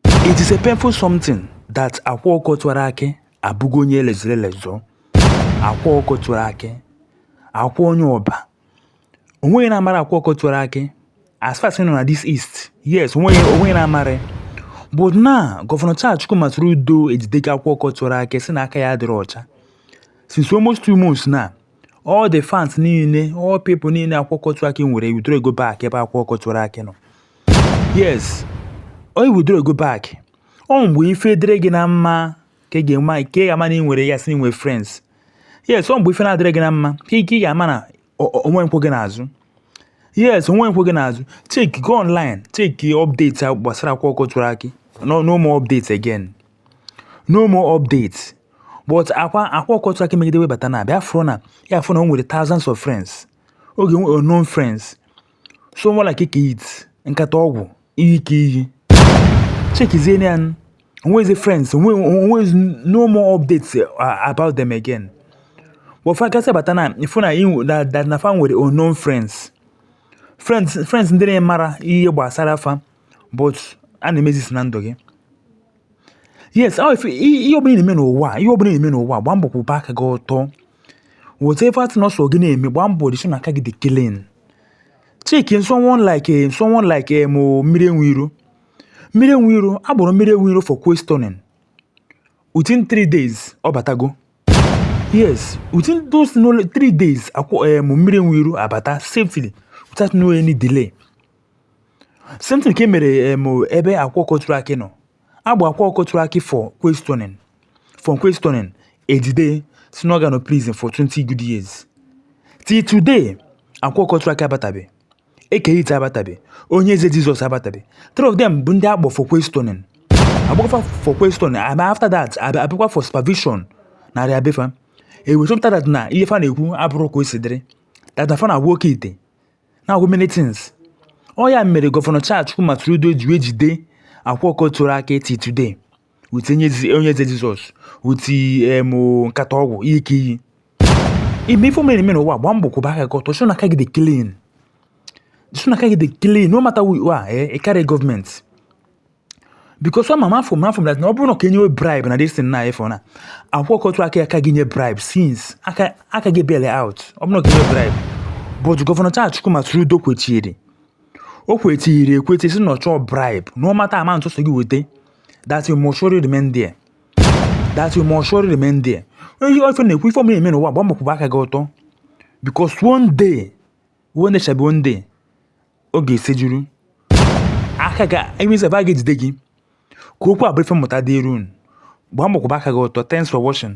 It is a painful something that Akwa Ọkụkọ Tiwara Akị abụgo onye e lezọrọ elezọ Akwa Ọkụkọ Tiwara Akị Akwa onye Ọba o nweghị onye na-amarọ Akwa Ọkụkọ Tiwara Akị as far as ị nọ na this east yes o nweghị onye na-amarọ but now gọvanọ Charles Chukwuma Soludo ejidego Akwa Ọkụkọ Tiwara Akị sị na aka ya adịrọ ọcha since almost two months now all the fans niile all people niile Akwa Ọkụkọ Tiwara Akị nwere ewithdrawgo back ebe Akwa Ọkụkọ Tiwara Akị nọ yes onye withdrawgo back ọ mgbe ife dịrị gị na mma ka ị ga-ama ka ị ga-ama na ị nwere ya sị na ị nwere friends yes ọ mgbe ife na-adịrị gị na mma ka ị ka ị ga-ama na o- o- o nwe ndị kwụ gị n'azụ yes o nwe ndị kwụ gị n'azụ check go online check update gbasara Akwa Ọkụkọ Tiwara Akị no no more updates again no more updates but Akwa Akwa Ọkụkọ Tiwara Akị megide wee bata now abịa fụrụ na ya fụ na o nwere thousands of friends oge unknown friends someone like Eke Hit nkata ọgwụ iyi ka iyi chekizie ya onwezi friends onwezi no more updates uh, about them again but fa gasị bata now ị fụ na that na fa nwere unknown friends friends friends ndị na-amarọ ihe gbasara fa but enemies na ndụ gị yes ọ ife ihe ọbụla na-eme n'ụwa ihe ọbụla na-eme n'ụwa gbaa mbọ kwụba aka gị ọtọ whatever thing ọ sọ gị na-eme gbaa mbọ dị sure na aka gị dị clean chekie someone like someone like eh, mo Mmiri Enwe Iro Mmiri Enwe Iro a kpọrọ Mmiri Enwe Iro for questioning within three days ọ batago yes within those no three days Akwa eh, mo Mmiri Enwe Iro abata safely without no any delay same thing ka e mere um, ebe Akwa Ọkụkọ Tiwara Akị nọ a kpọọ Akwa Ọkụkọ Tiwara Akị for questioning from questioning ejide sị na ọ ga-anọ prison for 20 good years till today Akwa Ọkụkọ Tiwara Akị abatabe Eke Hit abatabe Onye Eze Jizọs abatabe three of them bụ ndị a kpọ for questioning a kpọọ fa for questioning and after that ab- abịakwa for supervision na area be fa e wee chọpụta that na ihe fa na-ekwu abụrọ ka o si dịrị that na fa na-agwọ oke ite na-agwọ many things ọ ya mere gọvanọ Charles Chukwuma Soludo ji wee jide Akwa Ọkụkọ Tiwara Akị till today with Onye Eze Jizọs with nkata ọgwụ iyi ka iyi ime ife mere eme n'ụwa gbaa mbọ kwụba aka gị ọtọ sure na aka gị dị clean dị sure na aka gị dị clean no matter who you are eh, ị karịrọ gọọmenti because ama m ọfụma ọfụma na ọ bụrụ na ka enyewe bribe na this thing na ị fụ na Akwa Ọkụkọ Tiwara Akị aka ga-enye bribe since aka aka gị bail ya out ọ bụrụ na ka enyewe bribe but gọvanọ Charles Chukwuma Soludo kwechiri o kwechiri ekwechi sị na ọ chọrọ bribe no matter amount ọ sọ gị weta that you must surely remain there that you must surely remain there ihe ife na-ekwu ife ọma eme n'ụwa gbaa mbọ kwụba aka gị ọtọ because one day one day shall be one day oge esejuru aka a ga-enwezi ebe a ga-ejide gị ka okwu a bụrụ ife mmụta dịrị unu gbaa mbọ kwụba aka gị ọtọ thanks for watching